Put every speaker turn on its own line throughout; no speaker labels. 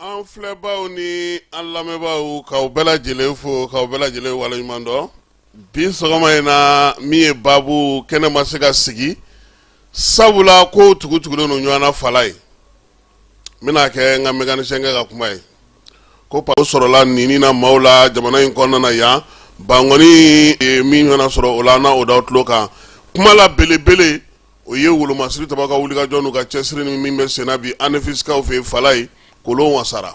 An filɛbaaw ni an lamɛnbaaw k'aw bɛɛ lajɛlen fo k'aw bɛɛ lajɛlen waleɲuman dɔn bi sɔgɔma in na min ye baabu kɛnɛ ma se ka sigi sabula kow tugu-tugulen don ɲɔgɔn na Falayi n bɛna kɛ n ka mécanicien kɛ ka kuma ye ko paw sɔrɔla nini na maaw la jamana in kɔnɔna na yan bankɔni ye min fana sɔrɔ o la n'a o d'aw tulo kan kuma la belebele o ye wolomasiri taba ka wulikajɔ n'u ka cɛsiri ni min bɛ senna bi anefisikaw fɛ yen Falayi kolon wasara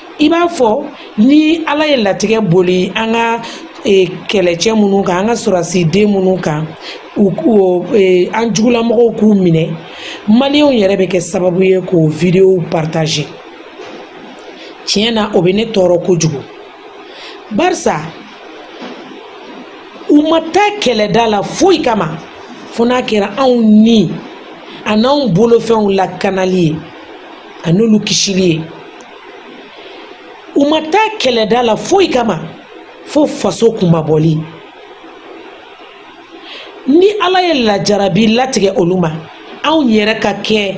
i b'a fɔ ni ala ye latigɛ boli an ka e, kɛlɛcɛ minnu kan an ka sɔrɔdasiden minnu kan e, an jugulamɔgɔw k'u minɛ maliyɛnw yɛrɛ bɛ kɛ sababu ye k'o videow partager tiɲɛ na o bɛ ne tɔɔrɔ kojugu barisa u ma taa kɛlɛda la foyi kama fo n'a kɛra anw ni ani anw bolofɛnw lakanali ye ani olu kisili ye u ma taa kɛlɛda la foyi kama fo faso kunmabɔli ni ala ye lajarabi latigɛ olu ma anw yɛrɛ ka kɛ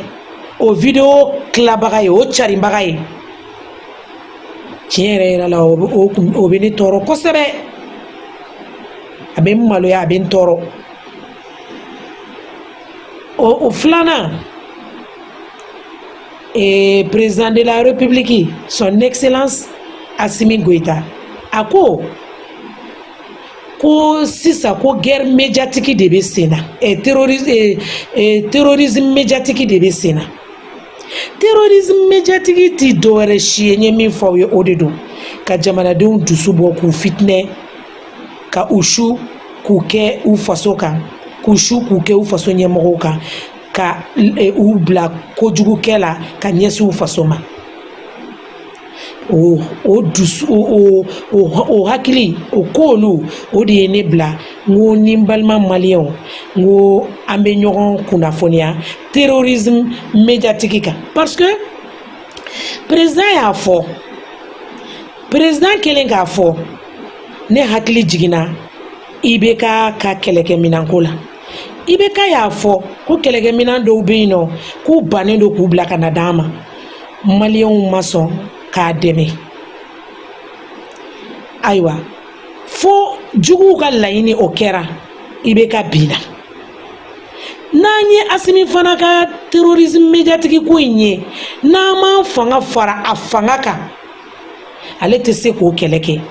o video tilabaga ye o carinbaga ye tiɲɛ yɛrɛ yɛrɛ la o bɛ ne tɔɔrɔ kosɛbɛ a bɛ n maloya a bɛ n tɔɔrɔ o filanan ee président de la république son excellence asimi goyita a ko ko sisan ko guerre médiatique de bɛ sen na eh, terrorisme, eh, eh, terrorisme médiatique de bɛ sen na terrorisme médiatique ti dɔwɛrɛ si ye n ye min fɔ aw ye o de don ka jamanadenw dusu bɔ k'u fitinɛ ka u su k'u kɛ u faso kan k'u su k'u kɛ u faso ɲɛmɔgɔw kan ka e, u bila kojugukɛ la ka ɲɛsin u faso ma o o dusu o o o hakili o koolu o de ye ne bila n ko ni n balima maliyɛnw n ko an bɛ ɲɔgɔn kunnafoniya terrorisme médiatique kan parce que président y'a fɔ président kɛlen k'a fɔ ne hakili jiginna IBK ka kɛlɛkɛminɛnko la IBK y'a fɔ ko kɛlɛkɛminan dɔw bɛ yen nɔ k'u bannen don k'u bila ka na d'an ma maliyɛnw ma sɔn k'a dɛmɛ ayiwa fo juguw ka laɲini o kɛra IBK binna n'an ye asimi fana ka terrorisme médiatique ko in ye n'an m'an fanga fara a fanga kan ale tɛ se k'o kɛlɛ kɛ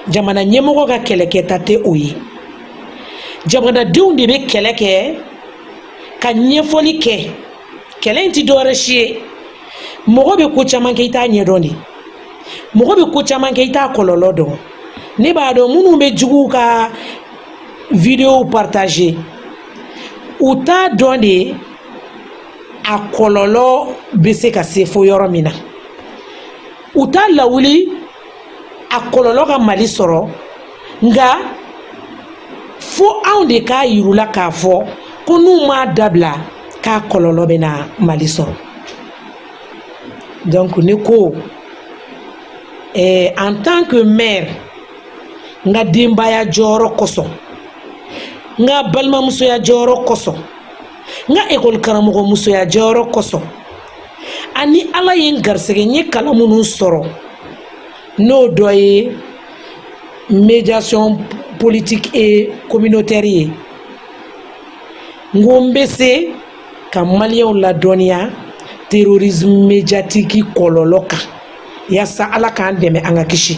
jamana ɲɛmɔgɔ ka kɛlɛkɛta tɛ o ye jamanadenw de bɛ kɛlɛ kɛ ka ɲɛfɔli kɛ kɛlɛ in tɛ dɔwɛrɛ si ye mɔgɔ bɛ ko caman kɛ i t'a ɲɛdɔn de mɔgɔ bɛ ko caman kɛ i t'a kɔlɔlɔ dɔn ne b'a dɔn minnu bɛ juguw ka videow partager u t'a dɔn de a kɔlɔlɔ bɛ se ka se fo yɔrɔ min na u t'a lawuli a kɔlɔlɔ ka mali sɔrɔ nka fo anw de k'a yirula k'a fɔ ko n'u m'a dabila k'a kɔlɔlɔ bɛna mali sɔrɔ donc ne ko eh, en tant que mère n ka denbaya jɔyɔrɔ kosɔn n ka balimamusoya jɔyɔrɔ kosɔn n ka ekɔli karamɔgɔmusoya jɔyɔrɔ kosɔn ani ala ye n garisɛgɛ n ye kalan minnu sɔrɔ n'o dɔ ye médiation politique et communautaire ye n ko n bɛ se ka maliyɛnw ladɔnniya terrorisme médiatique kɔlɔlɔ kan yaasa ala k'an dɛmɛ an ka kisi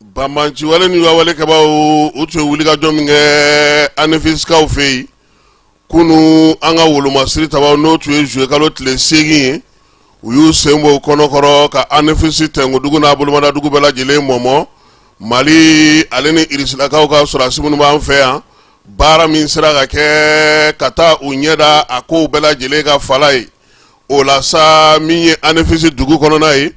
banbanci wale ni wawale kɛbaw u tun ye wulikajɔ min kɛ anefisikaw fɛ yen kunun an ka wolomasiri tabaw n'o tun ye zuye kalo tile seegin ye u y'u sen bɔ kɔnɔkɔrɔ ka anefisi tɛnkodugu n'a bolomadadugu bɛɛ lajɛlen mɔmɔ mali ale ni irisilakaw ka sɔrɔdasi minnu b'an fɛ yan baara min sera ka kɛ ka taa u ɲɛda a kow bɛɛ lajɛlen kan falaye o la sa min ye anefisi dugu kɔnɔna ye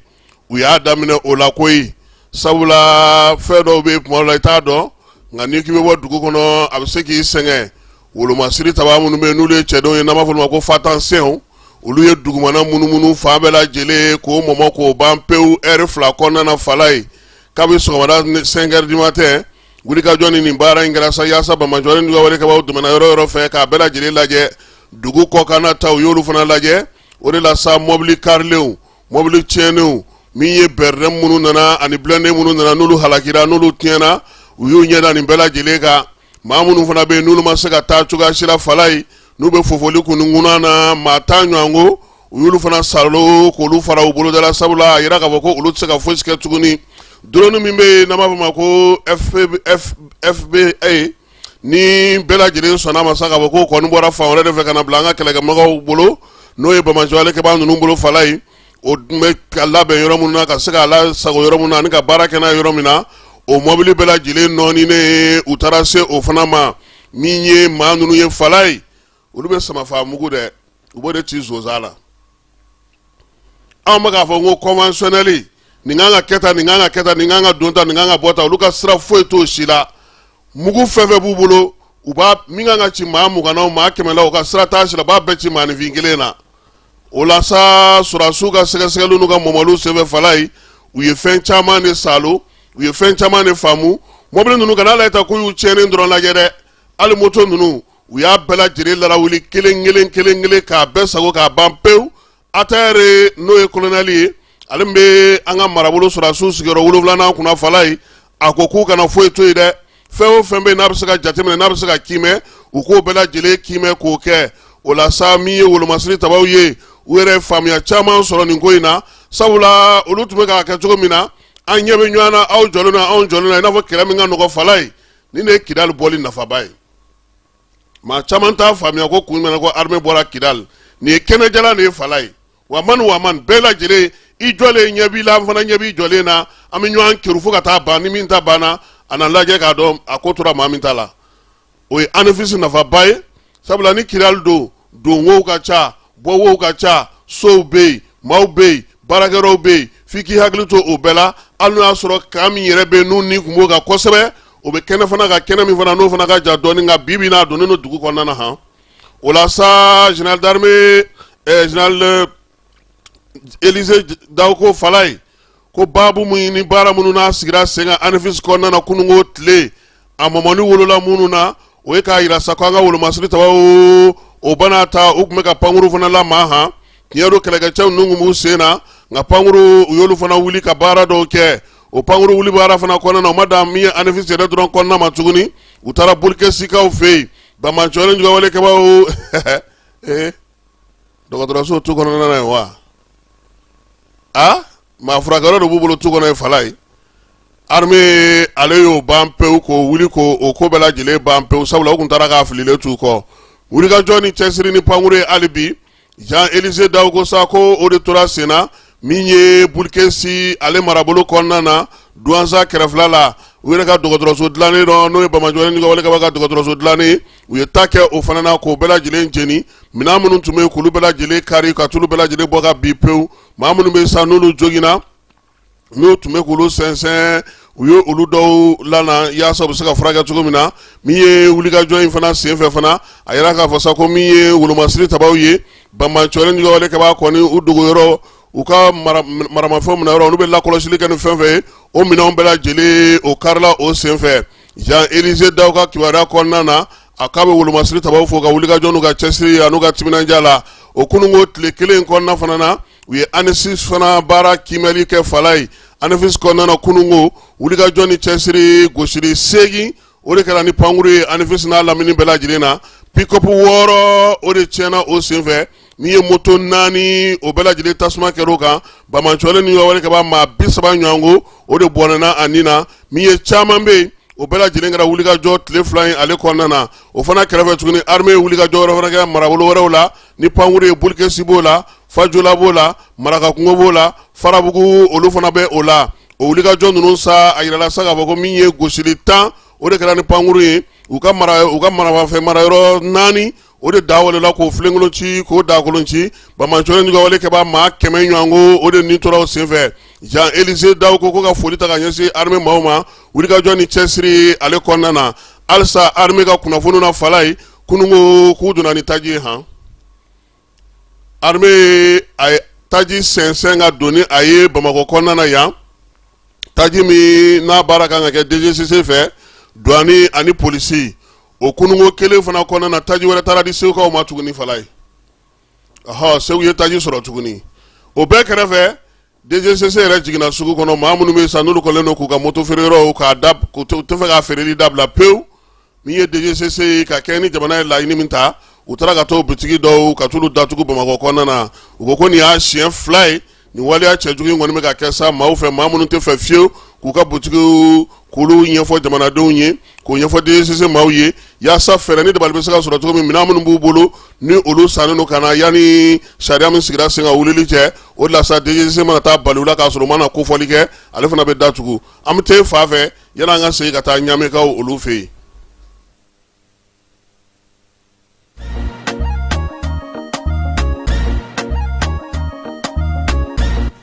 u y'a daminɛ o la koyi sabula fɛn dɔw bɛ kuma la i t'a dɔn nka n'i k'i bɛ bɔ dugu kɔnɔ a bɛ se k'i sɛgɛn wolomasiri taba minnu bɛ yen n'olu ye cɛdenw ye n'a b'a fɔ olu ma ko fantassinw olu ye dugumana munumunu fan bɛɛ lajɛlen k'o mɔmɔ k'o ban pewu ɛri fila kɔnɔna falaye kabi sɔgɔmada cinq heures du matin wulikajɔ ni nin baara in kɛra sa yaasa banbanci ni wale kɛbaw tɛmɛna yɔrɔ yɔrɔ fɛ k'a bɛɛ lajɛlen lajɛ dugu kɔkan ta u y'olu fana lajɛ o de la sa mɔbili karilenw mɔbili tiɲɛnenw min ye BRDM minnu nana ani blindé minnu nana n'olu halakira n'olu tiɲɛna u y'u ɲɛda nin bɛɛ lajɛlen kan maa minnu fana bɛ yen n'olu ma se ka taa cogoya si la fala ye n'u bɛ fofoli kunkunna na maa tan ɲɔgɔn ko u y'olu fana salo k'olu fara u bolodala sabula a yira k'a fɔ ko olu tɛ se ka fosi kɛ tuguni drone min bɛ yen n'an b'a fɔ o ma ko FBA ni bɛɛ lajɛlen sɔnna ma sa k'a fɔ ko kɔni bɔra fan wɛrɛ de fɛ ka na bila an ka kɛlɛkɛmɔgɔw bolo n'o ye banbaanci wale kɛbaa ninnu bolo fala ye o tun bɛ k'a labɛn yɔrɔ minnu na ka se k'a lasago yɔrɔ minnu na ani ka baara kɛ n'a yɔrɔ min na o mɔbili bɛɛ lajɛlen nɔɔninen u taara se o fana ma min ye maa ninnu ye fala ye olu bɛ samafa mugu dɛ u b'o de ci sonsan la anw bɛ k'a fɔ ko conventionnel nin kan ka kɛ tan nin kan ka kɛ tan nin kan ka don tan nin kan ka bɔ tan olu ka sira foyi t'o si la mugu fɛn fɛn b'u bolo u b'a min kan ka ci maa mugan maa kɛmɛ la u ka sira t'a si la u b'a bɛɛ ci maanifin kelen na o la sa sɔrɔsiw ka sɛgɛsɛgɛli n'u ka mɔmɔliw senfɛ fala ye u ye fɛn caman de salo u ye fɛn caman de faamu mɔbili ninnu ka n'a la ta k'u y'u tiɲɛnen dɔrɔn lajɛ dɛ hali moto ninnu u y'a bɛɛ lajɛlen larawuli kelen kelen kelen kelen k'a bɛɛ sago k'a ban pewu Attaher n'o ye kolonɛli ye ale min bɛ an ka marabolo sɔrɔsiw sigiyɔrɔ wolonwulanan kunna fala ye a ko k'u kana foyi to yen dɛ fɛn o fɛn bɛ yen n'a bɛ se ka jateminɛ n'a bɛ se ka kiimɛ u k'o bɛɛ lajɛlen kiimɛ k'o kɛ o la sa min ye wolomasiri tabaw ye u yɛrɛ faamuya caman sɔrɔ nin ko in na sabula olu tun bɛ k'a kɛ cogo min na an ɲɛ bɛ ɲɔgɔn na aw jɔlen na anw jɔlen na i n'a fɔ kɛlɛ min ka nɔgɔ fala ye nin de ye Kidali bɔli nafaba ye maa caman t'a faamuya ko kun jumɛn na ko armée bɔra Kidal nin ye kɛnɛjalan de ye fala ye wa man wa man bɛɛ lajɛlen i jɔlen ɲɛ b'i la an fana ɲɛ b'i jɔlen na an bɛ ɲɔgɔn kerun fo ka taa ban ni min ta banna a na lajɛ k'a dɔn a ko tora maa min ta la o ye Anefisi nafaba ye sabula ni Kidal don don wow ka ca bɔ wow ka ca sow bɛ yen maaw bɛ yen baarakɛyɔrɔw bɛ yen f'i k'i hakili to o bɛɛ la hali n'o y'a sɔrɔ camp min yɛrɛ bɛ yen n'u ni kun b'o kan kosɛbɛ o bɛ kɛnɛ fana kan kɛnɛ min fana n'o fana ka jan dɔɔni nka bi bi in na a donnen don dugu kɔnɔna na han o la sa général d'armée ɛɛ général Élisée Dao ko fala ye ko baabu min ni baara minnu n'a sigira sen kan Anefisi kɔnɔna na kununko tile a mɔmɔni wolola minnu na o ye k'a yira sa ko an ka wolomasiri tabaw o bana ta u tun bɛ ka pankuru fana lamaa han tiɲɛ don kɛlɛkɛcɛw ninnu tun b'u sen na nka pankuru u y'olu fana wuli ka baara dɔw kɛ o pankuru wuli baara fana kɔnɔna na u ma dan min ye Anefisi yɛrɛ dɔrɔn kɔnɔna ma tuguni u taara Bulikɛsikaw fɛ yen banbaanciw ni juguwale kɛbaaw ee dɔgɔtɔrɔso tu kɔnɔna ye wa a maa furakɛyɔrɔ de b'u bolo tu kɔnɔ ye Falaye armée ale y'o ban pewu k'o wuli k'o ko bɛɛ lajɛlen ban pewu sabula u tun taara k'a fililen t'u kɔ wulikajɔ ni cɛsiri ni pankuru ye hali bi jean elise daw ko sa ko o de tora sen na min ye bulukesi ale marabolo kɔnɔna na duwanza kɛrɛfɛla la u yɛrɛ ka dɔgɔtɔrɔso dilannen dɔ n'o ye banbaatɔlen juguwale kɛbaa ka dɔgɔtɔrɔso dilannen u ye ta kɛ o fana na k'o bɛɛ lajɛlen jeni minɛn minnu tun bɛ yen k'olu bɛɛ lajɛlen kari ka t'olu bɛɛ lajɛlen bɔ ka bin pewu maa minnu bɛ yen sa n'olu joginna n'u tun bɛ k'olu sɛnsɛn u ye olu dɔw lana yaasa u bɛ se ka furakɛ cogo min na min ye wulikajɔ in fana senfɛ fana a yira k'a fɔ sa ko min ye wolomasiri tabaw ye banbaatɔlen juguwale kɛbaa kɔni u dogoyɔrɔ u ka maramafɛn minɛ yɔrɔ olu bɛ lakɔlɔsili kɛ ni fɛn fɛn ye o minɛnw bɛɛ lajɛlen o karila o senfɛ jan elize daw ka kibaruya kɔnɔna na a k'a bɛ wolomasiri tabaw fo u ka wulikajɔ n'u ka cɛsiri an'u ka timinandiya la o kununko tile kelen kɔnɔna fana na u ye ANEFIS fana baara kiimɛli kɛ Falaye ANEFIS kɔnɔna na kununko wulikajɔ ni cɛsiri gosili seegin o de kɛra ni pankuru ye ANEFIS n'a lamini bɛɛ lajɛlen na pick-up wɔɔrɔ o de tiɲɛna o senfɛ min ye moto naani o bɛɛ lajɛlen tasuma kɛr'o kan banbaatɔlen ni wale kɛbaa maa bi saba ɲɔgɔn ko o de bɔnɛna a ni na min ye caman bɛ yen o bɛɛ lajɛlen kɛra wulikajɔ tile fila in ale kɔnɔna na o fana kɛrɛfɛ tuguni armée ye wulikajɔ wɛrɛ fana kɛ marabolo wɛrɛw la ni pankuru ye bulukesi b'o la fajola b'o la marakakungo b'o la farabugu olu fana bɛ o la o wulikajɔ ninnu sa a yirala sa k'a fɔ ko min ye gosili tan o de kɛra ni pankuru ye u ka maramafɛn marayɔrɔ naani o de da wolola k'o filenkolon ci k'o dakolon ci banbaatɔlen juguwale kɛbaa maa kɛmɛ ɲɔgɔn ko o de nin tora o senfɛ jan elize daw ko ka foli ta ka ɲɛsin armée maaw ma wulikajɔ ni cɛsiri ale kɔnɔna na halisa armée ka kunnafoni na Falaye kununko k'u donna ni taji ye hɔn armée taji sɛnsɛn ka don ni a ye bamakɔ kɔnɔna na yan taji min n'a baara kan ka kɛ DGCC fɛ douane ani polisi o kununko kelen fana kɔnɔna na taji wɛrɛ taara di segukaw ma tuguni Falaye ɔhɔ segu ye taji sɔrɔ tuguni o bɛɛ kɛrɛfɛ DGCC yɛrɛ jiginna sugu kɔnɔ maa minnu bɛ yen sa n'olu kɔlen don k'u ka moto feereyɔrɔw k'a da k'u tɛ fɛ ka feereli dabila pewu min ye DGCC ye ka kɛɲɛ ni jamana ye laɲini min ta u taara ka t'o bitigi dɔw ka t'olu datugu Bamakɔ kɔnɔna na u ko ko nin y'a siɲɛ fila ye nin waleya cɛjugu in kɔni bɛ ka kɛ sa maaw fɛ maa minnu tɛ fɛ fiyewu k'u ka butigiw k'olu ɲɛfɔ jamanadenw ye k'o ɲɛfɔ DGCC maaw ye yaasa fɛɛrɛ ni dabali bɛ se ka sɔrɔ cogo min minɛn minnu b'u bolo ni olu sannen don ka na yanni sariya min sigira sen kan wulili cɛ o de la sa DGCC mana taa bali u la k'a sɔrɔ u ma na kofɔli kɛ ale fana bɛ datugu an bɛ taa e fan fɛ yanni an ka segin ka taa ɲaamekaw olu fɛ yen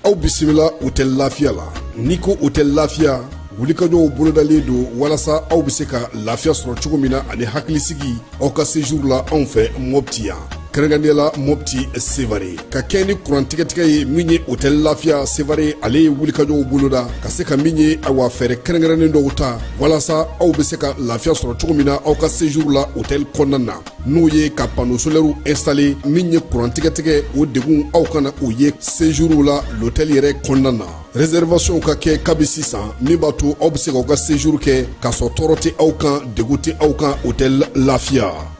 aw bisimila hotɛli lafiya la n'i ko hotɛli lafiya wulikajɔw bolodalen don walasa aw bɛ se ka lafiya sɔrɔ cogo min na ani hakilisigi aw ka sejuru la anw fɛ mɔpti yan kɛrɛnkɛrɛnnenya la mopti sevare ka kɛɲɛ ni kurantigɛtigɛ ye min ye hotɛli lafiya sevare ale ye wulikajɔw boloda ka se ka min ye awa fɛɛrɛ kɛrɛnkɛrɛnnen dɔw ta walasa aw bɛ se ka lafiya sɔrɔ cogo min na aw ka sejuru la hotɛli kɔnɔna na n'o ye ka pano solɛriw instale min ye kurantigɛtigɛ o degun aw kana o ye sejuru la lotɛli yɛrɛ kɔnɔna na reservation ka kɛ kabi sisan min b'a to aw bɛ se k'aw ka sejuru kɛ k'a sɔrɔ tɔɔrɔ tɛ aw kan degun tɛ aw kan hotɛli lafiya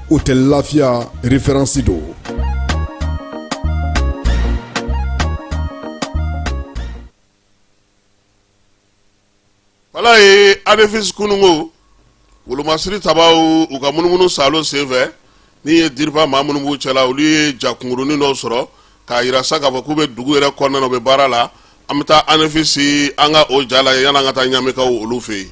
hotɛli lafiya referansi
don wala ye anefisi kununko wolomasiri tabaw u ka munumunu saalo senfɛ n'i ye dirpa maa minnu b'u cɛla olu ye ja kunkurunnin dɔ sɔrɔ k'a yira sa k'a fɔ k'u bɛ dugu yɛrɛ kɔnɔna na u bɛ baara la an bɛ taa anefisi an ka o ja lajɛ yanni an ka taa ɲamekaw olu fɛ yen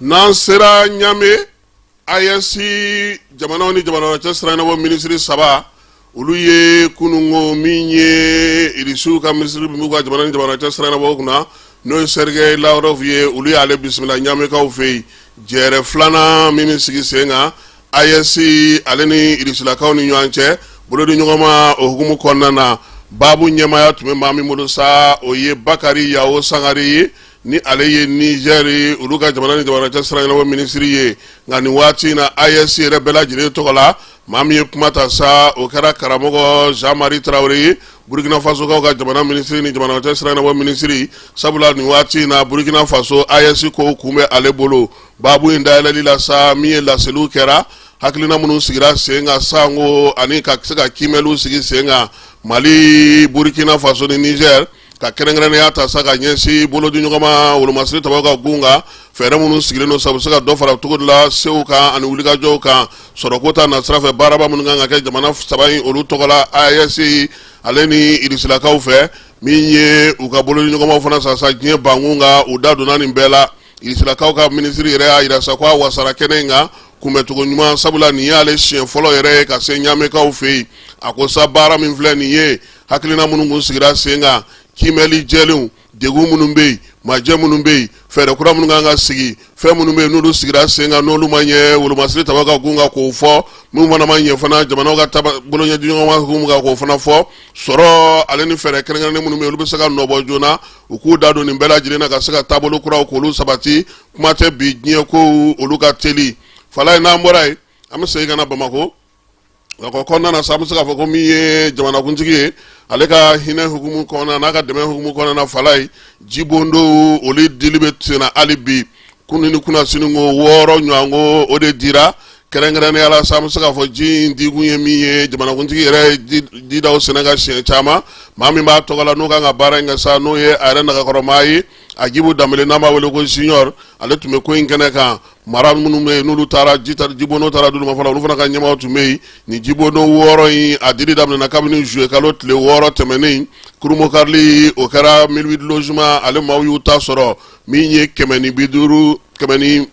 n'an sera ɲame AES jamanaw ni jamana cɛ sira ɲɛnabɔ minisiri saba olu ye kununko min ye irisiw ka minisiri b'u ka jamana ni jamana cɛ sira ɲɛnabɔ kunna n'o ye sergei lavrov ye olu y'ale bisimila ɲamekaw fɛ yen jɛɛrɛ filanan min bɛ sigi sen kan AES ale ni irisilakaw ni ɲɔgɔn cɛ bolodiɲɔgɔnma o hukumu kɔnɔna na baabu ɲɛmaaya tun bɛ maa min bolo sa o ye bakari yawo sangare ye ni ale ye nizɛr olu ka jamana ni jamana cɛ sira ɲɛnabɔ minisiri ye nka nin waati in na AES yɛrɛ bɛɛ lajɛlen tɔgɔ la maa min ye kuma ta sa o kɛra karamɔgɔ jean marie traore ye burkina fasokaw ka jamana minisiri ni jamana cɛ sira ɲɛnabɔ minisiri sabula nin waati in na burkina faso AES kow kun bɛ ale bolo baabu in dayɛlɛli la sa min ye laseliw kɛra hakilina minnu sigira sen kan sanko ani ka se ka kiimɛliw sigi sen kan mali burkina faso ni nizɛr ka kɛrɛnkɛrɛnnenya ta sa ka ɲɛsin bolodiɲɔgɔnma wolomasiri tabaw ka gun kan fɛɛrɛ minnu sigilen don sabu se ka dɔ fara cogo de la sew kan ani wulikajɔw kan sɔrɔko ta nasira fɛ baaraba minnu kan ka kɛ jamana saba in olu tɔgɔ la AES ale ni irisilakaw fɛ min ye u ka bolodiɲɔgɔnmaw fana sasa diɲɛ bankun kan u da donna nin bɛɛ la irisilakaw ka minisiri yɛrɛ y'a yira sa ko a wasara kɛnɛ in kan kunbɛncogo ɲuman sabula nin y'ale siɲɛ fɔlɔ yɛrɛ ye ka se ɲamekaw fɛ yen a ko sa baara min filɛ nin ye hakilina minnu kun sigira sen kan kiimɛli jɛlenw degun minnu bɛ yen majɛ minnu bɛ yen fɛɛrɛ kura minnu kan ka sigi fɛn minnu bɛ yen n'olu sigira sen kan n'olu ma ɲɛ wolomasiri taba ka kun kan k'o fɔ minnu fana ma ɲɛ fana jamanaw ka taba boloɲɛdiɲɔgɔnma kun kan k'o fana fɔ sɔrɔ ale ni fɛɛrɛ kɛrɛnkɛrɛnnen minnu bɛ yen olu bɛ se ka nɔbɔ joona u k'u da don nin bɛɛ lajɛlen na ka se ka taabolo kuraw k'olu sabati kuma tɛ bi diɲɛ kow olu ka teli fala ye n'an bɔra yen an bɛ segin ka na bamakɔ nka o kɔnɔna na sa an bɛ se k'a fɔ ko min ye jamanakuntigi ye ale ka hinɛ hukumu kɔnɔna n'a ka dɛmɛ hukumu kɔnɔna fala ye jibondow olu dili bɛ senna hali bi kunun ni kunnasini ko wɔɔrɔ ɲɔgɔn ko o de dira kɛrɛnkɛrɛnnenya la sa an bɛ se k'a fɔ ji in dikun ye min ye jamanakuntigi yɛrɛ ye didaw sɛnɛ ka siɲɛ caman maa min b'a tɔgɔ la n'o kan ka baara in kɛ sa n'o ye a yɛrɛ nagakɔrɔmaa ye ajibu danbele n'an b'a wele ko junior ale tun bɛ ko in kɛnɛ kan mara minnu bɛ yen n'olu taara jibondo taara d'olu ma fɔlɔ olu fana ka ɲɛmaaw tun bɛ yen nin jibondo wɔɔrɔ in a dili daminɛna kabini zuye kalo tile wɔɔrɔ tɛmɛnen kurunbonkarili o kɛra mille huit logements ale maaw y'u ta sɔrɔ min ye kɛmɛ ni bi duuru kɛmɛ ni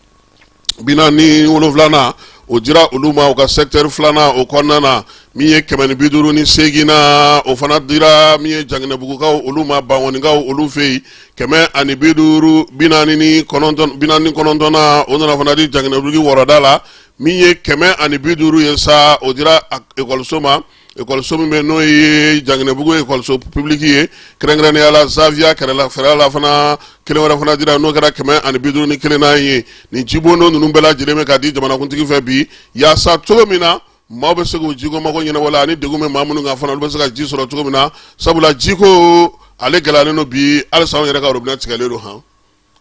bi naani ni wolonwulana o dira olu ma u ka secteur filanan o kɔnɔna na min ye kɛmɛ ni bi duuru ni seeginna o fana dira min ye janginɛbugukaw olu ma bankɔnikaw olu fɛ yen kɛmɛ ani bi duuru bi naani ni kɔnɔntɔnna o nana fana di janginɛbugu wɔrɔda la min ye kɛmɛ ani bi duuru ye sa o dira ekɔliso ma ekɔliso min bɛ n'o ye janginɛbugu ekɔliso pibuliki ye kɛrɛnkɛrɛnnenya la zaviya kɛrɛla fɛrɛ la fana kelen wɛrɛ fana dira n'o kɛra kɛmɛ ani bi duuru ni kelen na ye nin jibondo ninnu bɛɛ lajɛlen bɛ ka di jamanakuntigi fɛ bi yaasa cogo min na maaw bɛ se k'u jiko mago ɲɛnabɔ la ani degun bɛ maa minnu kan fana olu bɛ se ka ji sɔrɔ cogo min na sabula jiko ale gɛlɛyalen don bi halisa anw yɛrɛ ka robinet tigɛlen don han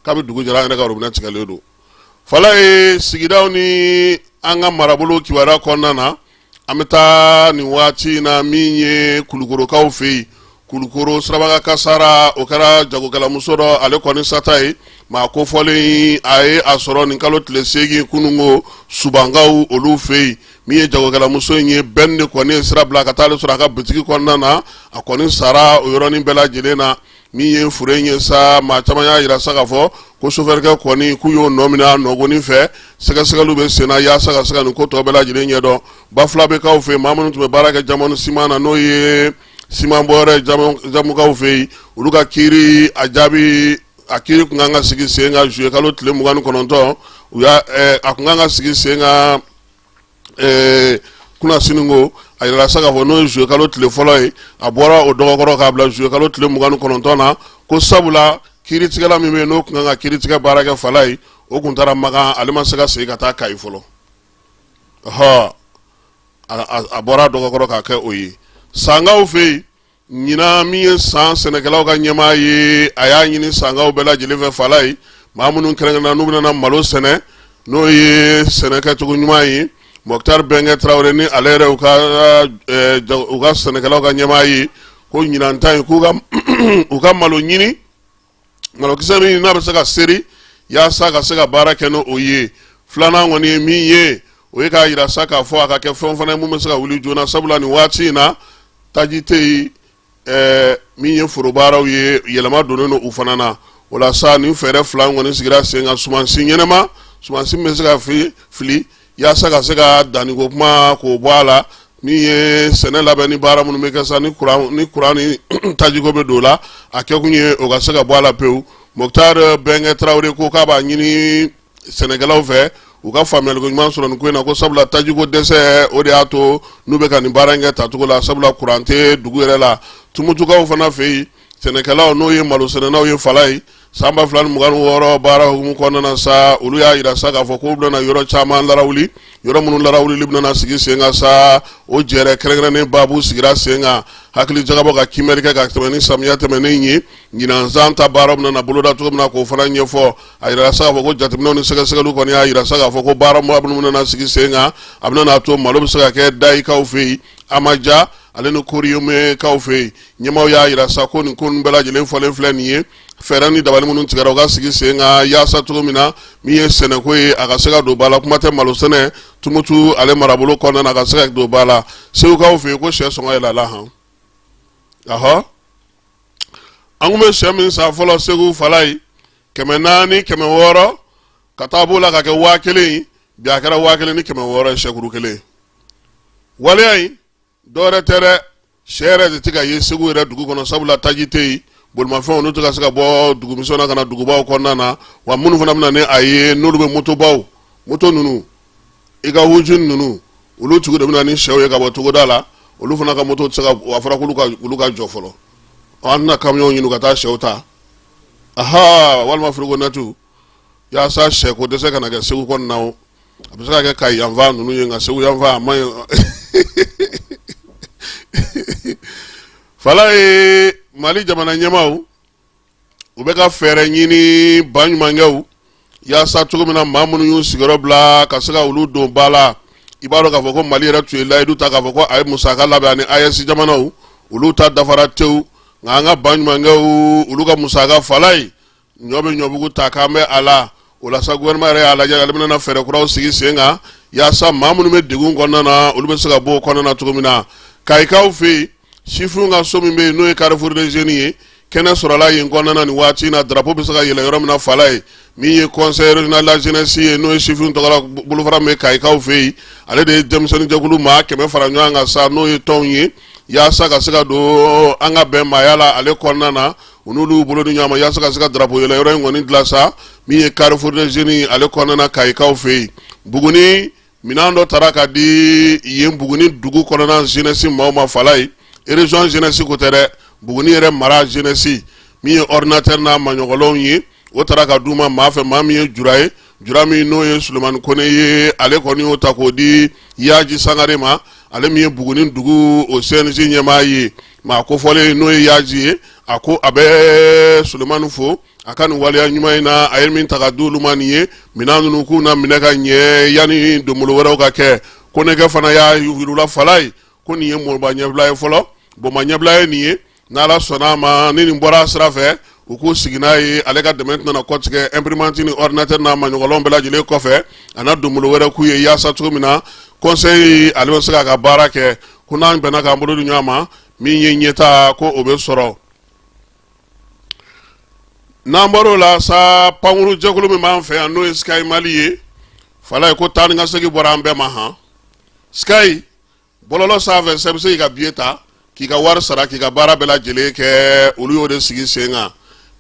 kabi dugu jɛra an yɛrɛ ka robinet tigɛlen don fala ye sigidaw ni an ka marabolo kibaruya kɔnɔna na an bɛ taa nin waati in na min ye kulukorokaw fɛ yen kulukoro siraba kan kasara o kɛra jagokɛlamuso dɔ ale kɔni sata ye maa kofɔlen a ye a sɔrɔ nin kalo tile seegin kununko subankaw olu fɛ yen min ye jagokɛlamuso in ye bɛn de kɔni ye sira bila ka taa ale sɔrɔ a ka bitigi kɔnɔna na a kɔni sara o yɔrɔnin bɛɛ lajɛlen na min ye fure in ye sa maa caman y'a yira sa k'a fɔ ko sofɛrikɛ kɔni k'u y'o nɔ minɛ a nɔgɔnin fɛ sɛgɛsɛgɛliw bɛ senna yaasa ka se ka nin ko tɔ bɛɛ lajɛlen ɲɛdɔn bafulabɛkaw fɛ maa minnu tun bɛ baara kɛ diamond siman na n'o ye siman bɔyɔrɔ ye jamukaw fɛ yen olu ka kiiri a jaabi a kiiri kun kan ka sigi sen kan juillet kalo tile mugan ni kɔnɔntɔn u y'a eh, a kun kan ka sigi sen kan eh, kunasini ko a yirala sa k'a fɔ n'o ye juillet kalo tile fɔlɔ ye a bɔra o dɔgɔkɔrɔ k'a bila juillet kalo tile mugan ni kɔnɔntɔn na ko sabula kiiritigɛla min bɛ yen n'o kun kan ka kiiritigɛ baara kɛ fala ye o kun taara makan ale ma se ka segin ka taa kayi fɔlɔ ɔhɔ a bɔra dɔgɔkɔrɔ k'a kɛ o ye sankaw fɛ yen ɲinan min ye san sɛnɛkɛlaw ka ɲɛmaa ye a y'a ɲini sankaw bɛɛ lajɛlen fɛ fala ye maa minnu kɛrɛnkɛrɛnna n'u bɛna malo sɛnɛ n'o ye sɛnɛkɛcogo ɲuman ye mɔkutari bɛnkɛ tarawele ni ale yɛrɛ u ka eh, u ka sɛnɛkɛlaw ka ɲɛmaa ye ko ɲinan ta in k'u ka u ka malo ɲini malokisɛ min n'a bɛ se ka seri yaasa ka se ka baara kɛ n'o o ye filanan kɔni ye min ye o ye k'a yira sa k'a fɔ a ka kɛ fɛn fana ye min bɛ se ka wuli joona sabula nin waati in na taji tɛ yen ɛɛ min ye forobaaraw ye yɛlɛma donnen don u fana na o la sa nin fɛɛrɛ fila kɔni sigira sen kan sumansi ɲɛnama sumansi min bɛ se ka fili fili yaasa ka se ka danniko kuma k'o bɔ a la min ye sɛnɛ labɛn ni baara minnu bɛ kɛ sa ni kuran ni tajiko bɛ don o la a kɛkun ye o ka se ka bɔ a la pewu mɔkutari bɛnkɛ tarawele ko k'a b'a ɲini sɛnɛkɛlaw fɛ u ka faamuyaliko ɲuman sɔrɔ nin ko in na ko sabula tajiko dɛsɛ o de y'a to n'u bɛ ka nin baara in kɛ tacogo la sabula kuran tɛ dugu yɛrɛ la tumutukaw fana fɛ yen sɛnɛkɛlaw n'o ye malo sɛnɛnaw ye fala ye san ba fila ni mugan wɔɔrɔ baara hukumu kɔnɔna na sa olu y'a yira sa k'a fɔ k'u bɛna yɔrɔ caman larawuli yɔrɔ minnu larawulili bɛna sigi sen kan sa o jɛrɛ kɛrɛnkɛrɛnnen baabu sigira sen kan hakili jagabɔ ka kiimɛli kɛ ka tɛmɛ ni samiya tɛmɛnen ye ɲinan san ta baara bɛna na boloda cogo min na k'o fana ɲɛfɔ a yira sa k'a fɔ ko jateminɛw ni sɛgɛsɛgɛliw kɔni y'a yira sa k'a fɔ ko baara minnu bɛna sigi sen kan a bɛna n'a to malo bɛ se ka kɛ dayikaw fɛ yen amaja ale ni koriyomekaw fɛ yen ɲɛmaaw y'a yira sa ko nin ko ninnu bɛɛ lajɛlen fɔlen filɛ nin ye fɛɛrɛ ni dabali minnu tigɛra u ka sigi sen kan yaasa cogo min na min ye sɛnɛko ye a ka se ka don ba la kuma tɛ malo sɛnɛ tumutu ale marabolo kɔnɔna na a ka se ka don ba la segukaw fɛ yen ko sɛ sɔngɔ yɛlɛla han ahɔ an tun bɛ sɛ min san fɔlɔ segu fala ye kɛmɛ naani kɛmɛ wɔɔrɔ ka taa b'o la ka kɛ waa kelen ye bi a kɛra waa kelen ni kɛmɛ wɔɔrɔ ye sɛkuru kelen waleya in dɔwɛrɛ tɛ dɛ sɛ yɛrɛ de tɛ ka ye segu yɛrɛ dugu kɔnɔ sabula taji tɛ yen bolimafɛn ninnu tɛ ka se ka bɔ dugumisɛnw na ka na dugubaw kɔnɔna na wa minnu fana bɛ na ni a ye n'olu bɛ motobaw moto ninnu i ko hawujin ninnu olu tigi de bɛ na ni sɛw ye ka bɔ togoda la olu fana ka moto tɛ se ka a fɔra k'olu ka olu ka jɔ fɔlɔ an tɛna kamiyɔnw ɲini ka taa sɛw ta aha walima furugonɛti yaasa sɛ ko dɛsɛ kana kɛ segu kɔnɔna na a bɛ se ka kɛ ka yan fan ninnu ye nka segu yan fan a ma ye fala ye mali jamana ɲɛmaaw u bɛ ka fɛɛrɛ ɲini ba ɲumankɛw yaasa cogo min na maa minnu y'u sigiyɔrɔ bila ka se ka olu don ba la i b'a dɔn k'a fɔ ko mali yɛrɛ tun ye layidu ta k'a fɔ ko a ye musaka labɛn ani ayɛsi jamanaw olu ta dafara tewu nka an ka ba ɲumankɛw olu ka musaka fala ye ɲɔ bɛ ɲɔbugu ta k'an bɛ a la o la sa gouvernement yɛrɛ y'a lajɛ ale bɛna fɛɛrɛ kuraw sigi sen kan yaasa maa minnu bɛ degun kɔnɔna na olu bɛ se ka bɔ o kɔnɔna na cogo min na kayikaw fɛ yen sifinw ka so min bɛ yen n'o ye carrefour des jeunes ye kɛnɛ sɔrɔla yen kɔnɔna na nin waati in na drapeau bɛ se ka yɛlɛ yɔrɔ min na fala ye min ye conseil régional de la jeunesse ye n'o ye sifinw tɔgɔla bolofara min bɛ kayikaw fɛ yen ale de ye denmisɛnnin jɛkulu maa kɛmɛ fara ɲɔgɔn kan sa n'o ye tɔnw ye yaasa ka se ka don an ka bɛn maaya la ale kɔnɔna na u n'olu bolo di ɲɔgɔn ma yaasa ka se ka drapeau yɛlɛ yɔrɔ in kɔni dilan sa min ye carrefour des jeunes ale kɔnɔna na kayikaw fɛ yen buguni minɛn dɔ taara ka di yen buguni dugu kɔnɔna jeunesse maaw ma fala ye région jeunesse ko tɛ dɛ buguni yɛrɛ mara jeunesse min ye ordinateur n'a maɲɔgɔnlenw ye o taara ka d'u ma maa fɛ maa min ye jura ye jura min n'o ye sulemani kɔnɛ ye ale kɔni y'o ta k'o di yaji sangare ma ale min ye buguni dugu o cnj ɲɛmaa ye maa kofɔlen n'o ye yaji ye a ko a bɛ sulemani fo a ka nin waleya ɲuman in na a ye min ta ka di olu ma nin ye minɛn ninnu k'u n'a minɛ ka ɲɛ yanni donbolo wɛrɛw ka kɛ kɔnɛkɛ fana y'a yira u la fala ye ko nin ye mɔba ɲɛbila ye fɔlɔ bɔnba ɲɛbila ye nin ye n'ala sɔnna a ma ni nin bɔra sira fɛ u k'u sigi n'a ye ale ka dɛmɛ tɛna kɔtigɛ imprimante ni ordinateur n'a maɲɔgɔnlɔn bɛɛ lajɛlen kɔfɛ a na donbolo wɛrɛ k'u ye yaasa cogo min na conseil ale bɛ se k'a ka baara kɛ ko n'an bɛnna k'an bolo di ɲɔgɔn ma min ye ɲɛta ko o bɛ sɔrɔ n'an bɔr'o la sa pankuru jɛkulu min b'an fɛ yan n'o ye sky mali ye fala ye ko taa ni ka segin bɔra an bɛɛ ma han sky bɔlɔlɔ sanfɛ sa i bɛ se k'i ka biye ta k'i ka wari sara k'i ka baara bɛɛ lajɛlen kɛ olu y'o de sigi sen kan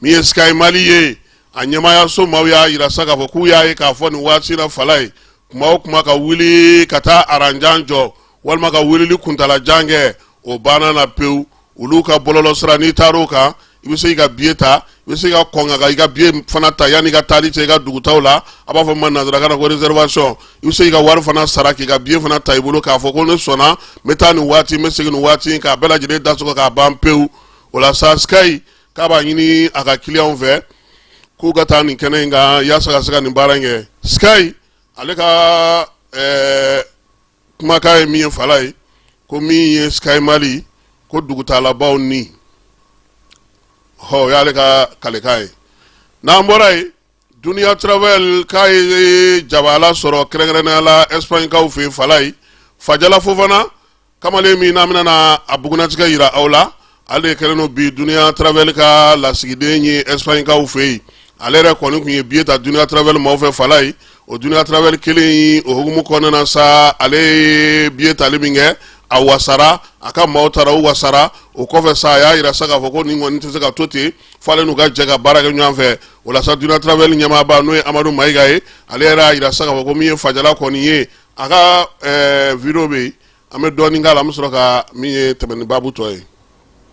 min ye sky mali ye a ɲɛmaayaso maaw y'a yira sa k'a fɔ k'u y'a ye k'a fɔ nin waati la fala ye kuma o kuma ka wuli ka taa aranjan jɔ walima ka wulili kuntalajan kɛ o banna na pewu olu ka bɔlɔlɔ sira n'i taara o kan i bɛ se k'i ka biye ta i bɛ se ka kɔn k'i ka biye fana ta yanni i ka taali cɛ i ka dugutaa la a b'a fɔ a ma nanzarakan na ko réservation i bɛ se ka wari fana sara k'i ka biye fana ta i bolo k'a fɔ ko ne sɔnna n bɛ taa nin waati n bɛ segin nin waati k'a bɛɛ lajɛlen da sɔgɔ k'a ban pewu o la sa sky k'a b'a ɲini a ka kiliyanw fɛ k'u ka taa nin kɛnɛ in kan yaasa ka se ka nin baara in kɛ sky ale ka ɛɛ eh, kumakan ye min ye fala ye ko min ye sky mali ko dugutalabaw ni hɔ o y'ale ka kalikan ye n'an bɔra yen duniya travel k'a ye jabaala sɔrɔ kɛrɛnkɛrɛnnenya la ɛsipaɲikaw fɛ yen fala ye fajala fofana kamalen min n'an bɛna a bugunnatigɛ jira aw la ale kɛlen don bi duniya travel ka lasigiden ye espagne kaw fɛ yen ale yɛrɛ kɔni tun ye biye ta duniya travel maaw fɛ fala ye o duniya travel kelen o hukumu kɔnɔna na sa ale ye biye tali min kɛ a wasara a ka maaw taara u wasara o kɔfɛ sa a y'a yira sa k'a fɔ ko nin kɔni tɛ se ka to ten f'ale n'u ka jɛ ka baara kɛ ɲɔgɔn fɛ o la sa duniya travel ɲɛmaaba n'o ye amadu mayiga ye ale yɛrɛ y'a yira sa k'a fɔ ko min ye fajala kɔni ye a ka ɛɛ video bɛ yen an bɛ dɔɔnin k'a la an bɛ sɔrɔ ka min ye tɛmɛ ni baabu tɔ ye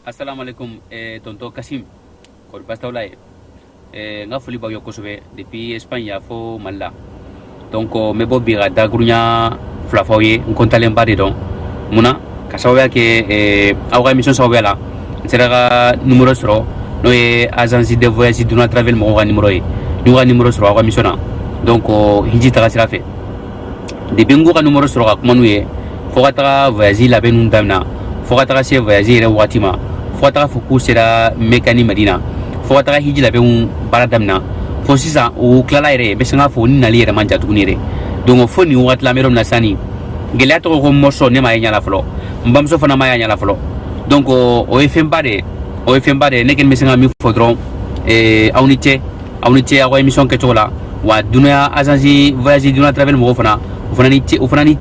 asalaamaaleykum eh, tonton kasim kɔri baasi t'aw la yen eh, n ka foli b'aw ye kosɛbɛ depuis espagne yan fo mali la donc n bɛ bɔ bi ka dakuruɲa fila f'aw ye n kɔntalenba de don mun na ka sababuya kɛ eh, aw ka émission sababuya la n sera ka numero sɔrɔ n'o ye agence de voyage duniya travel mɔgɔw ka numero ye n y'u ka numero sɔrɔ aw ka émission na donc hiji taga sira fɛ depuis n k'u ka numero sɔrɔ ka kuma n'u ye fo ka taga voyage labɛn ninnu damina fo ka taga se voyage yɛrɛ wagati ma fo ka taga fɔ k'u sera mɛka ni madina fo ka taga hiji labɛnw baara damina fo sisan u tilala yɛrɛ bɛ se k'a fɔ u ni nali yɛrɛ man jan tuguni yɛrɛ donc fo nin wagati la an bɛ yɔrɔ min na sisan nin gɛlɛya tɔgɔ ko mɔsɔ ne m'a ye ɲɛ la fɔlɔ n bamuso fana ma y'a ɲɛ la fɔlɔ donc o ye fɛnba de ye o ye fɛnba de ye ne kɔni bɛ se ka min fɔ dɔrɔn aw ni ce aw ni ce aw ka émission kɛcogo la wa duniya agence voyage duniya travel mɔgɔw fana u fana ni ce u fana
ni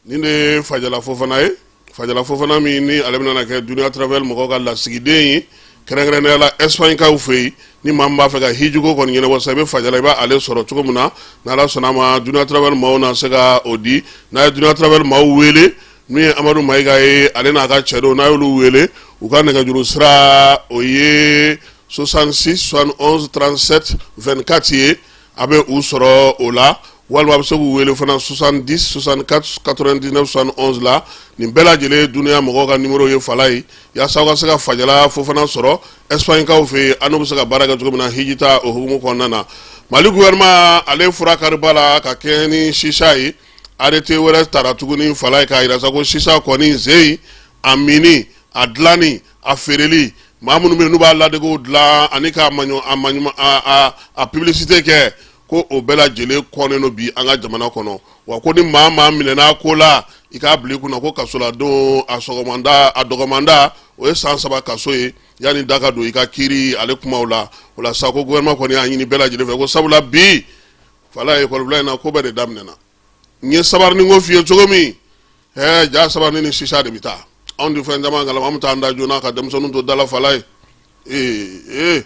nin de ye fajala fofana ye fajala fofana min ni ale bɛna kɛ duniya travel mɔgɔw ka lasigiden ye kɛrɛnkɛrɛnnenya la espagne kaw fɛ yen ni maa min b'a fɛ ka hijiko kɔni ɲɛnabɔ sa i bɛ fajala i b'a ale sɔrɔ cogo min na n'ala sɔnna a ma duniya travel maaw na se ka o di n'a ye duniya travel maaw wele min ye amadu mayiga ye ale n'a ka cɛdenw n'a y'olu wele u ka nɛgɛjuru sira o ye 66 71 37 24 ye a bɛ u sɔrɔ o la walima a bɛ se k'u wele fana 70 64 99 71 la nin bɛɛ lajɛlen duniya mɔgɔw ka numero ye fala ye yaasa aw ka se ka fajala fofana sɔrɔ espagne kaw fɛ yen an'u bɛ se ka baara kɛ cogo min na hijitaa o hukumu kɔnɔna na mali gouvernement ale fura kariba la ka kɛɲɛ ni chicha ye arrêté wɛrɛ tara tuguni fala ye k'a yira sa ko chicha kɔni ze a minni a dilanni a feereli maa minnu bɛ n'u b'a ladegew dilan ani k'a maɲɔ a maɲuma a a publicité kɛ ko o bɛɛ lajɛlen kɔnnen don bi an ka jamana kɔnɔ wa ko ni maa maa minɛna a ko la i k'a bila i kunna ko kasoladon a sɔgɔmanda a dɔgɔmanda o ye san saba kaso ye yanni da ka don i ka kiiri ale kumaw la o la sa ko gouvernement kɔni y'a ɲini bɛɛ lajɛlen fɛ ko sabula bi fala ye kɔlɔbila in na ko bɛɛ de daminɛna n ye sabarini ko f'i ye cogo min ɛɛ ja sabarini ni sisa de bɛ taa anw tɛ fɛn caman kalama an bɛ taa an da joona ka denmisɛnninw to da la fala ye ee ee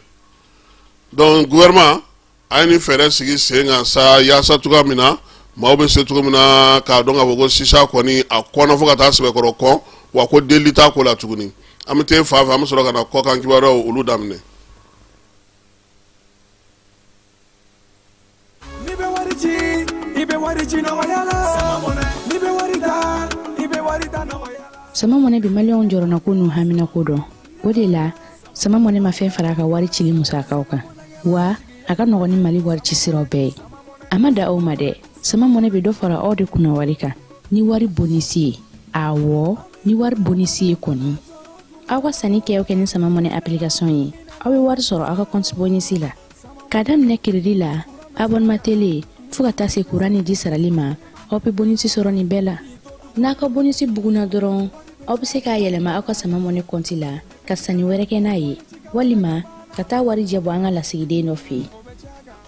donc gouvernement a ye nin fɛɛrɛ sigi sen kan sa yaasa cogo min na maaw bɛ se cogo min na k'a dɔn k'a fɔ ko sisa kɔni a kɔnna fo ka taa sɛbɛkɔrɔ kɔn wa ko delili t'a ko la tuguni an bɛ t'e fan fɛ an bɛ sɔrɔ ka na kɔkan kibaruyaw olu daminɛ N'i bɛ wari ci i bɛ
wari ci nɔgɔya la n'i bɛ wari ta i bɛ wari ta nɔgɔya la. sama mɔnɛ bi maliyɛnw jɔrɔnanko n'u haminanko dɔn o de la sama mɔnɛ ma fɛn fara a ka wari cili musakaw kan wa a ka nɔgɔn ni mali wari ci siraw bɛɛ ye a ma dan o ma dɛ sama mɔnɛ bɛ dɔ fara aw de kunna wari kan ni wari bonisi ye awɔ ni wari bonisi ye kɔni aw ka sanni kɛ o kɛ ni sama mɔnɛ application ye aw bɛ wari sɔrɔ aw ka kɔnti bonisi la ka daminɛ kiridi la abonnement télé fo ka taa se kuran ni ji sarali ma aw be bonisi sɔrɔ nin bɛɛ la n'aw ka bonisi bugunna dɔrɔn aw be se k'a yɛlɛma aw ka sama mɔnɛ kɔnti la ka sanni wɛrɛ kɛ n'a ye walima ka taa warijɛ bɔ an ka lasigiden dɔ fɛ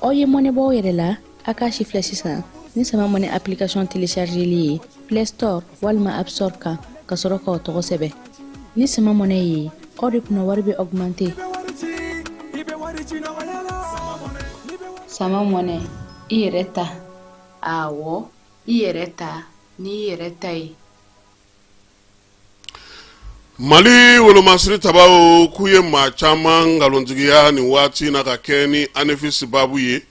aw ye mɔnɛ bɔ aw yɛrɛ la aw k'a sifilɛ sisan ni sama mɔnɛ application téléchargeli ye play store walima app store kan ka sɔrɔ k'aw tɔgɔ sɛbɛ ni sama mɔnɛ ye aw de kunna wari bɛ
augmenter sama mɔnɛ i yɛrɛ ta awɔ i yɛrɛ ta n'i yɛrɛ ta ye
mali wolomasiri tabaw k'u ye maa caman nkalontigiya nin waati na ka kɛ ni anefisi babu ye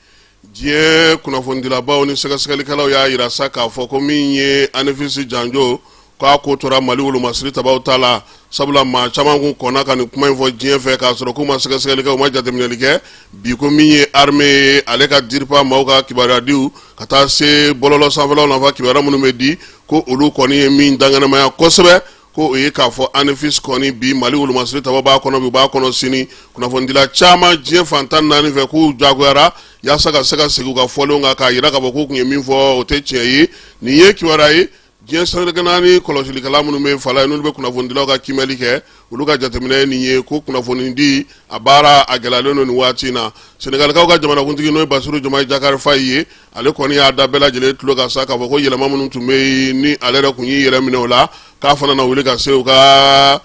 diɲɛ kunnafonidilabaw ni sɛgɛsɛgɛlikɛlaw y'a jira sa k'a fɔ ko min ye anefisi janjo k'a ko tora mali wolomasiri tabaw ta la sabula maa caman kun kɔnna ka nin kuma in fɔ diɲɛ fɛ k'a sɔrɔ k'u ma sɛgɛsɛgɛli kɛ u ma jateminɛli kɛ bi ko min ye armée ye ale ka diripa maaw ka kibaruyadiw ka taa se bɔlɔlɔ sanfɛlaw nafa kibaruya minnu bɛ di ko olu kɔni ye min danganamaya kosɛbɛ ko o ye k'a fɔ anefisi kɔni bi mali wolomasiri tabaw b'a kɔnɔ bi u b'a kɔnɔ sini kunnafonidila caman diɲɛ fantan naani fɛ k'u jagoyara yaasa ka se ka segin u ka fɔlen kan k'a jira k'a fɔ k'u tun ye min fɔ o tɛ tiɲɛ ye nin ye kibaruya ye diɲɛ seleke naani kɔlɔsilikɛla minnu bɛ fala ye n'olu bɛ kunnafonidilaw ka kimɛli kɛ olu ka jateminɛ nin ye ko kunnafonidi a baara a gɛlɛyalen don nin waati in na senegalikaw ka jamanakuntigi n'o ye basiru jomayi jakari fayi ye ale kɔni y'a da bɛɛ lajɛlen tulo kan sa k'a fɔ ko yɛlɛma minnu tun bɛ yen ni ale yɛrɛ tun y'i yɛrɛ minɛ o la k'a fana na wuli ka se u ka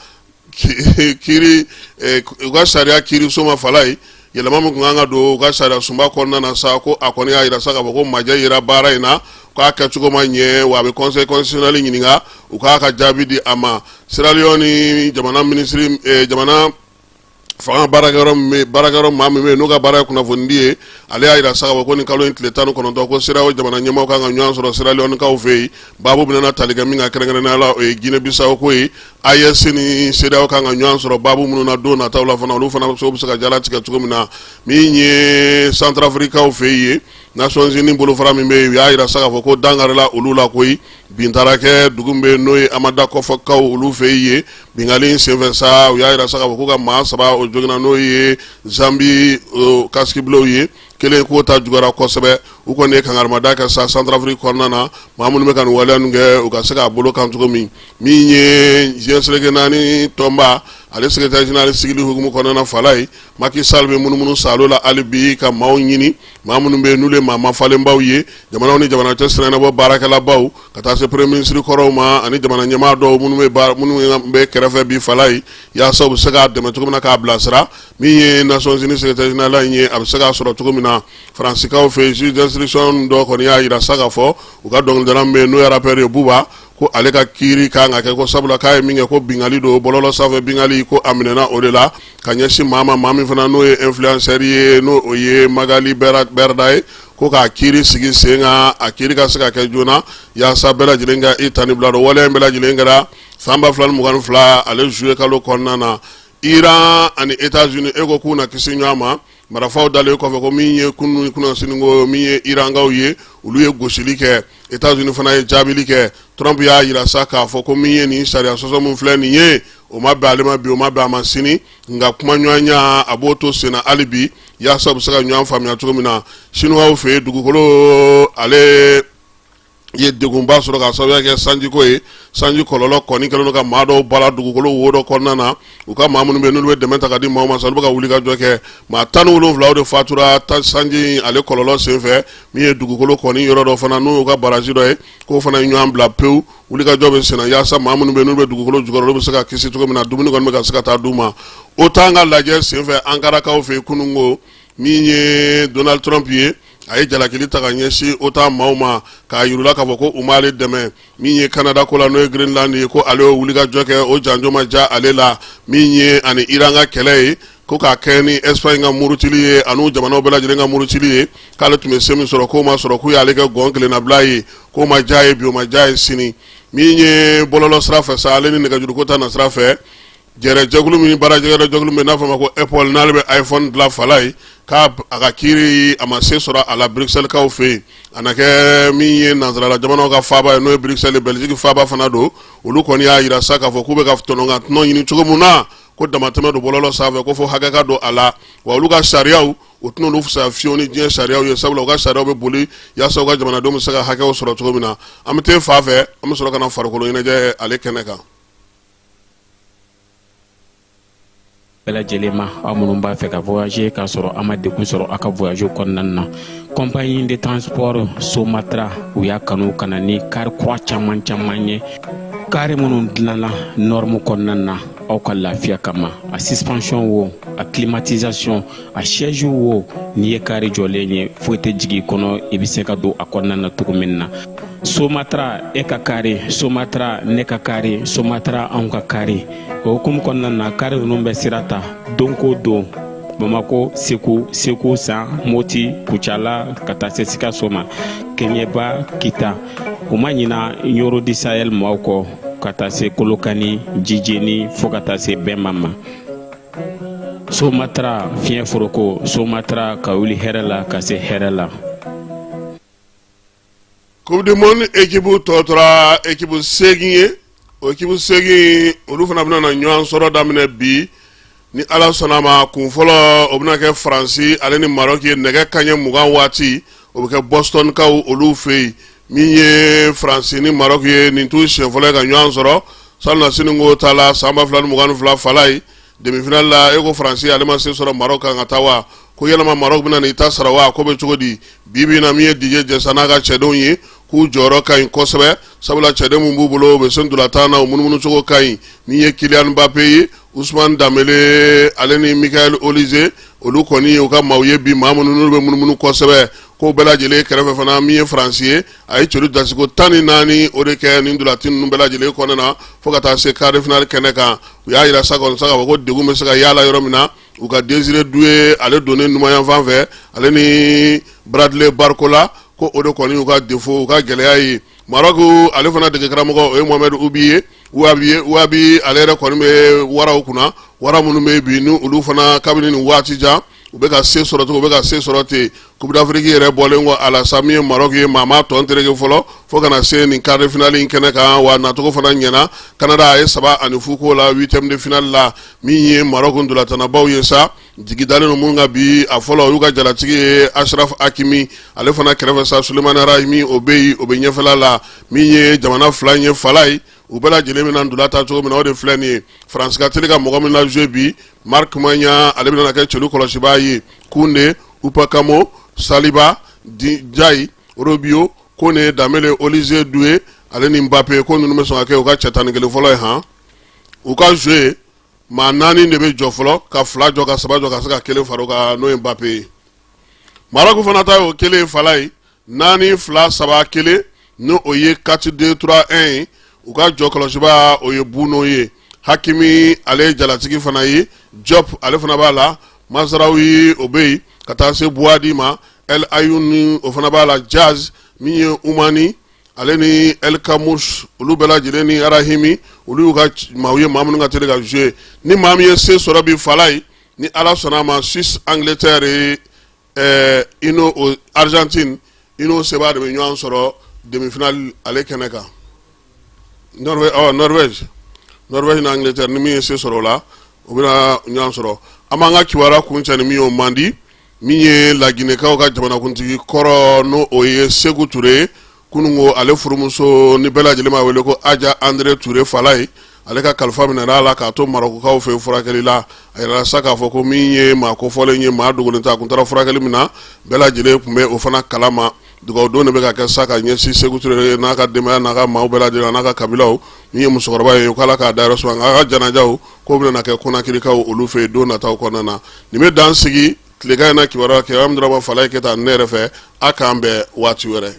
kiri eh, u ka sariya kiriso ma fala ye yɛlɛma min tun kan ka don u ka sariyasunba kɔnɔna na sa ko a kɔni y'a jira sa k'a fɔ ko majɛ yera baara in na k'a kɛcogo ma ɲɛ wa a bɛ conseil constitutionnel ɲininka u k'a ka jaabi di a ma sierra leone jamana minisiri eh, jamana fanga baarakɛyɔrɔ min bɛ baarakɛyɔrɔ maa min bɛ yen n'o ka baara ye kunnafonidi ye ale y'a jira sa k'a fɔ ko nin kalo in tile tan ni kɔnɔntɔn ko CEDEAO jamana ɲɛmaaw kan ka ɲɔgɔn sɔrɔ Sierra Leone-kaw fɛ yen baabu bɛna tali kɛ min kan kɛrɛnkɛrɛnnenya la o ye Guinée Bissau ko ye AES ni CEDEAO kan ka ɲɔgɔn sɔrɔ baabu minnu na don nataw la fana olu fana bɛ se ka jalatigɛ cogo min na min ye Centrafrique-kaw fɛ yen Nations Unies bolofara min bɛ yen u y'a jira sa k'a fɔ ko dankarila olu la koyi bin taara kɛ dugu min bɛ n'o ye amada kɔfɔkaw olu fɛ yen binkanli senfɛ sa u y'a jira sa k'a fɔ k'u ka maa saba o joginna n'o ye Zambie casques bleus ye kelen k'o ta juguyara kosɛbɛ u kɔni ye kankarimada kɛ sa Centrafrique kɔnɔna na maa minnu bɛ ka nin waleya kɛ u ka se k'a bolo kan cogo min min ye diɲɛ seleke naani tɔnba ale secrétaire général sigili hukumu kɔnɔna fala ye Macky Sall bɛ munumunu saalo la hali bi ka maaw ɲini maa minnu bɛ yen n'olu ye maa mafalenbaw ye jamanaw ni jamana cɛ sirannabɔ baarakɛlabaw ka taa se premier ministre kɔrɔw ma ani jamana ɲɛmaa dɔw minnu bɛ kɛrɛfɛ bi fala ye yaasa u bɛ se k'a dɛmɛ cogo min na k'a bilasira min ye Nations Unies secrétaire général in ye a bɛ se k'a sɔrɔ cogo min na faransikaw fɛ yen juge d'instruction dɔ kɔni y'a jira sa k'a fɔ u ka dɔnkilidala min bɛ yen n'o ye rappeur ye Booba ko ale ka kiiri kan ka kɛ ko sabula k'a ye min kɛ ko binkanli don bɔlɔlɔ sanfɛ binkanli ko a minɛna o de la ka ɲɛsin maa ma maa min fana n'o ye influenceur ye n'o o ye Magali Berdah ye ko k'a kiiri sigi sen kan a kiiri ka se ka kɛ joona yaasa bɛɛ lajɛlen ka i ta ni bila dɔn waleya in bɛɛ lajɛlen kɛra san ba fila ni mugan ni fila ale zuye kalo kɔnɔna na Iran ani États-Unis e ko k'u na kisi ɲɔgɔn ma Marafaw dalen kɔfɛ ko min ye kunun kunasini ko min ye irankaw ye olu ye gosili kɛ États-Unis fana ye jaabili kɛ Trump y'a jira sa k'a fɔ ko min ye nin sariya sɔsɔ min filɛ nin ye o ma bɛn ale ma bi o ma bɛn a ma sini nka kuma ɲɔgɔnya a b'o to senna hali bi yaasa u bɛ se ka ɲɔgɔn faamuya cogo min na sinuwaw fɛ yen dugukolo ale ye degunba sɔrɔ ka sababuya kɛ sanjiko ye sanji kɔlɔlɔ kɔni kɛlen don ka maa dɔw bala dugukolo wo dɔ kɔnɔna na u ka maa minnu bɛ n'olu bɛ dɛmɛ ta ka di maaw ma sa olu bɛ ka wulikajɔ kɛ maa tan ni wolonwula o de fatura sanji in ale kɔlɔlɔ senfɛ min ye dugukolo kɔni yɔrɔ dɔ fana n'o y'u ka barazi dɔ ye k'o fana ye ɲɔgɔn bila pewu wulikajɔ bɛ senna yaasa maa minnu bɛ n'olu bɛ dugukolo jukɔrɔ olu bɛ se ka kisi cogo min na dumuni kɔni bɛ ka se ka taa d'u ma OTAN ka lajɛ senfɛ ankarakaw fɛ yen kunun ko min ye donald trump ye a ye jalakili ta ka ɲɛsin OTAN maaw ma k'a yira u la k'a fɔ ko u m'ale dɛmɛ min ye kanada ko la n'o ye grinlandi ye ko ale y'o wulikajɔ kɛ o janjo ma diya ale la min ye ani iran ka kɛlɛ ye ko k'a kɛ ni Espagne ka murutili ye ani jamanaw bɛɛ lajɛlen ka murutili ye k'ale tun bɛ se min sɔrɔ k'o ma sɔrɔ k'u y'ale kɛ gɔn kelennabila ye k'o ma diya a ye bi o ma diya a ye sini min ye bɔlɔlɔ sira fɛ sa ale ni nɛgɛjuruko ta na sira fɛ Jɛrɛjɛkulu min baarajɛkulu min n'a fɔ ma ko apple n'ale bɛ iphone dilan fala ye k'a a ka kiiri a ma se sɔrɔ a la bruxelles kaw fɛ yen a na kɛ min ye nansarala jamanaw ka faaba ye n'o ye bruxelles belgique faaba fana don olu kɔni y'a jira sa k'a fɔ k'u bɛ ka tɔnɔnkan tɔnɔ ɲini cogo min na ko damatɛmɛ don bɔlɔlɔ sanfɛ ko fo hakɛ ka don a la wa olu ka sariyaw o tɛna u fisaya fiyewu ni diɲɛ sariyaw ye sabula u ka sariyaw bɛ boli yaasa u ka jamanadenw bɛ se ka hakɛw sɔrɔ cogo min na an bɛ taa fa fɛ an bɛ sɔrɔ ka na farikolo ɲɛnajɛ ale kɛnɛ kan
bɛɛ lajɛlen ma aw minnu b'a fɛ ka voyager k'a sɔrɔ a ma degun sɔrɔ a ka voyage kɔnɔna na compagnie de transport somatra u y'a kanu ka na ni kari kura caman caman ye kari minnu dilanna norme kɔnɔna na aw ka lafiya kama a suspension wo a climatisation a siège wo n'i ye kari jɔlen ye foyi tɛ jigin kɔnɔ i bɛ se ka don a kɔnɔna na cogo min na somatra e ka kari somatra ne ka kari somatra anw ka kari o hukumu kɔnɔna na kari ninnu bɛ sira ta don ko don bamako segu segu san moti kucala ka taa se sikaso ma keɲeba kita u ma ɲina nioro du sahel maaw kɔ ka taa se kolokani jijeni fɔɔ ka taa se bɛma ma somatra fiɲɛ foroko somatra ka wuli hɛrɛ la ka se hɛrɛ
la coupe du monde ekipu tɔ tora ekipu seegin ye o ekipu seegin olu fana bɛna na ɲɔgɔn sɔrɔ daminɛ bi ni ala sɔnna ma kun fɔlɔ o bɛna kɛ faransi ale ni maroc ye nɛgɛ kaɲɛ mugan waati o bɛ kɛ boston kaw olu fɛ yen min ye faransi ni maroc ye nin t'u siɲɛ fɔlɔ ka ɲɔgɔn sɔrɔ salonnasini ko ta la san ba fila ni mugan ni fila fala ye demi-finale la e ko faransi ale ma se sɔrɔ maroc kan ka taa wa ko yalama maroc bɛ na i ta sara wa ko bɛ cogo di bi bi in na min ye didier deschamps n'a ka cɛdenw ye k'u jɔyɔrɔ ka ɲi kosɛbɛ sabula cɛden minnu b'u bolo u bɛ se ntolatan na u munummunucogo ka ɲi min ye kylian mbappé ye Ousmane dembélé ale ni michael olise olu kɔni u ka maaw ye bi maa minnu n'olu bɛ munumunu kosɛbɛ ko bɛɛ lajɛlen kɛrɛfɛ fana min ye faransi ye a ye celu dasiko tan ni naani o de kɛ nin ntolatan ninnu bɛɛ lajɛlen kɔnɔna na fo ka taa se quart de finale kɛnɛ kan u y'a jira sa kɔni sa k'a fɔ ko degun bɛ se ka yala yɔrɔ min na u ka désiré doué ale donnen numanyanfan fɛ ale ni bradley barcola ko o de kɔni u ka défaut u ka gɛlɛya ye maroc ale fana degekaramɔgɔ o ye mohamed ouahbi ye ouahbi ale yɛrɛ kɔni bɛ waraw kunna wara minnu bɛ bi ni olu fana kabini nin waati jan u bɛ ka se sɔrɔ ten u bɛ ka se sɔrɔ ten coupe d'afrique yɛrɛ bɔlen kɔ a la sa min ye maroc ye maa ma tɔn tereke fɔlɔ fo ka na se nin quart de finale in kɛnɛ kan wa nacogo fana ɲɛna kanada a ye saba ani fu k'o la huitième de finale la min ye maroc ntolatannabaw ye sa Jigi dalen ninnu minnu kan bi a fɔlɔ o y'u ka jalatigi ye Achraf Hakimi ale fana kɛrɛfɛ sa sulemani Rahimi o bɛ yen o bɛ ɲɛfɛla la min ye jamana fila in ye Falaye u bɛɛ lajɛlen bɛna ntola tan cogo min na o de filɛ nin ye faransi ka teli ka mɔgɔ minnu lajouer bi marc Maignan ale bɛna kɛ celu kɔlɔsibaa ye Koundé upakamo saliba di jayi Rabiot kone Dembélé Olise Doué ale ni mbappe ko ninnu bɛ sɔn ka kɛ u ka cɛ tan ni kelen fɔlɔ ye han u ka jouer maa naani de bɛ jɔ fɔlɔ ka fila jɔ ka saba jɔ ka se ka kelen fara o kan n'o ye Mbappe ye Maroku fana ta y'o kelen ye Falaye naani fila saba kelen ni o ye quatre deux trois un ye u ka jɔ kɔlɔsibaa o ye Bounou ye hakimi ale ye jalatigi fana ye Diop ale fana b'a la Mazraoui o bɛ yen ka taa se Bouaddi ma El Aynaoui o fana b'a la Diaz min ye umani ale ni El Khannouss olu bɛɛ lajɛlen ni Rahimi olu y'u ka maaw ye maa minnu ka teli ka jouer ni maa min ye se sɔrɔ bi Falaye ni ala sɔnna a ma suisse angleterre ye ɛɛ i n'o argentine i n'o sebaa de bɛ ɲɔgɔn sɔrɔ demifinali ale kɛnɛ kan norvège ɔ norvège norvège ni angleterre ni min ye se sɔrɔ o la o bɛna ɲɔgɔn sɔrɔ an b'an ka kibaruya kuncɛ ni min ye o man di min ye laginɛkaw ka jamanakuntigi kɔrɔ n' o ye Seku Ture kunungo ale furumuso ni bɛɛ lajɛlen b'a wele ko Hadja Andrée ture Falaye ale ka kalifa minɛna a la k'a to Marokukaw fɛ furakɛli la a yirala sa k'a fɔ ko min ye maa kofɔlen ye maa dogolen tɛ a tun taara furakɛli min na bɛɛ lajɛlen tun bɛ o fana kalama Dugawu don de bɛ ka kɛ sa ka ɲɛsin Seku Ture n'a ka denbaya n'a ka maaw bɛɛ lajɛlen an'a ka kabilaw min ye musokɔrɔba ye k'Ala k'a dayɔrɔ suma nka a ka janajaw k'o bɛna na kɛ Konakirikaw olu fɛ yen don nataw kɔnɔna na nin bɛ dan sigi tilegan in na kibaruya Keyame Daraba Falaye Keyita ne yɛrɛ fɛ a k'an bɛn waati wɛrɛ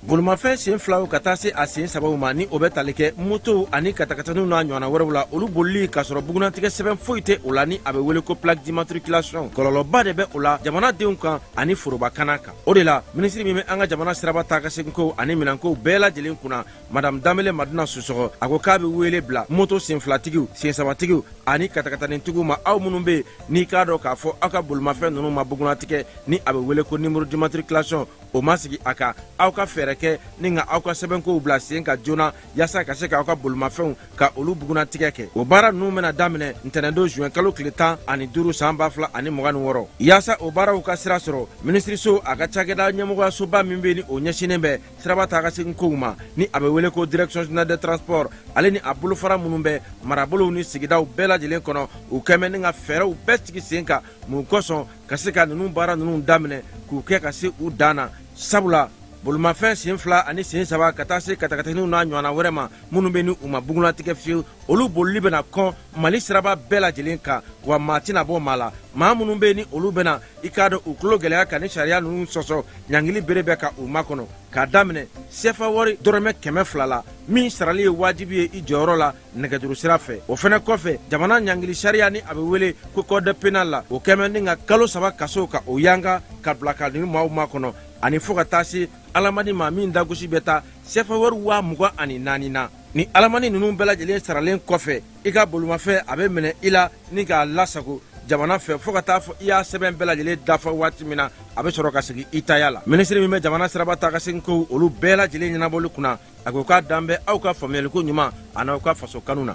bolimafɛn sen filaw ka taa se a sen sabaw ma ni o bɛ tali kɛ motow ani katakataniw n'a ɲɔgɔnna wɛrɛw la olu bolili k'a sɔrɔ bugunnatigɛ sɛbɛn foyi tɛ o la ni a bɛ wele ko plaque d'immatriculation kɔlɔlɔba de bɛ o la jamanadenw kan ani foroba kana kan o de la minisiri min bɛ an ka jamana siraba taa ka seginkow ani minɛnkow bɛɛ lajɛlen kunna madame danbele madina susɔgɔ a ko k'a bɛ wele bila moto senfilatigiw sensabatigiw ani katakatanitigiw ma aw minnu bɛ yen n'i k'a dɔn k'a fɔ aw ka bolimafɛn ninnu ma bugunnatigɛ ni a bɛ wele ko numéro d'immatriculation o ma sigi a kan aw ka fɛɛrɛ kɛ ni ka aw ka sɛbɛnkow bila sen kan joona yaasa ka se k'aw ka bolimafɛnw ka olu bugunnatigɛ kɛ o baara ninnu bɛna daminɛ ntɛnɛndon zuwɛn kalo tile tan ani duuru san ba fila ani mugan ni wɔɔrɔ yaasa o baaraw ka sira sɔrɔ minisiriso a ka cakɛda ɲɛmɔgɔyasoba min bɛ ni o ɲɛsinnen bɛ siraba taa ka segin kow ma ni a bɛ wele ko direction générale des transports ale ni a bolofara minnu bɛ marabolow ni sigidaw bɛɛ lajɛlen kɔnɔ u kɛmɛ ni ka fɛɛrɛw bɛɛ sigi sen kan mun kosɔn ka se ka ninnu baara ninnu daminɛ k'u kɛ ka se u dan na sabula bolimafɛn sen fila ani sen saba ka taa se katakataninw n'a ɲɔgɔnna wɛrɛ ma minnu bɛ ni u ma bugunnatigɛ fiyewu olu bolili bɛna kɔn mali siraba bɛɛ lajɛlen kan wa maa tɛna bɔ maa la maa minnu bɛ ni olu bɛna i k'a dɔn u tulo gɛlɛya ka ni sariya ninnu sɔsɔ ɲangili bere bɛ ka u makɔnɔ k'a daminɛ sefa wari dɔrɔmɛ kɛmɛ fila la min sarali ye wajibi ye i jɔyɔrɔ la nɛgɛjuru sira fɛ o fana kɔfɛ jamana ɲangili sariya ni a bɛ wele ko code pénal la o kɛmɛ ni ka kalo saba kaso ka o yanga ka bila ka ninnu maaw makɔnɔ ani fo ka taa se alamani ma min dagosi bɛ taa sefa wari waa mugan ani naani na ni alamani ninnu bɛɛ lajɛlen saralen kɔfɛ i ka bolimafɛn a bɛ minɛ i la ni k'a lasago jamana fɛ fo ka taa fɔ i y'a sɛbɛn bɛɛ lajɛlen dafa waati min na a bɛ sɔrɔ ka segin i taya la minisiri min bɛ jamana siraba taa ka segin kow olu bɛɛ lajɛlen ɲɛnabɔli kunna a ko k'a dan bɛ aw ka faamuyaliko ɲuman a n'aw ka faso kanu na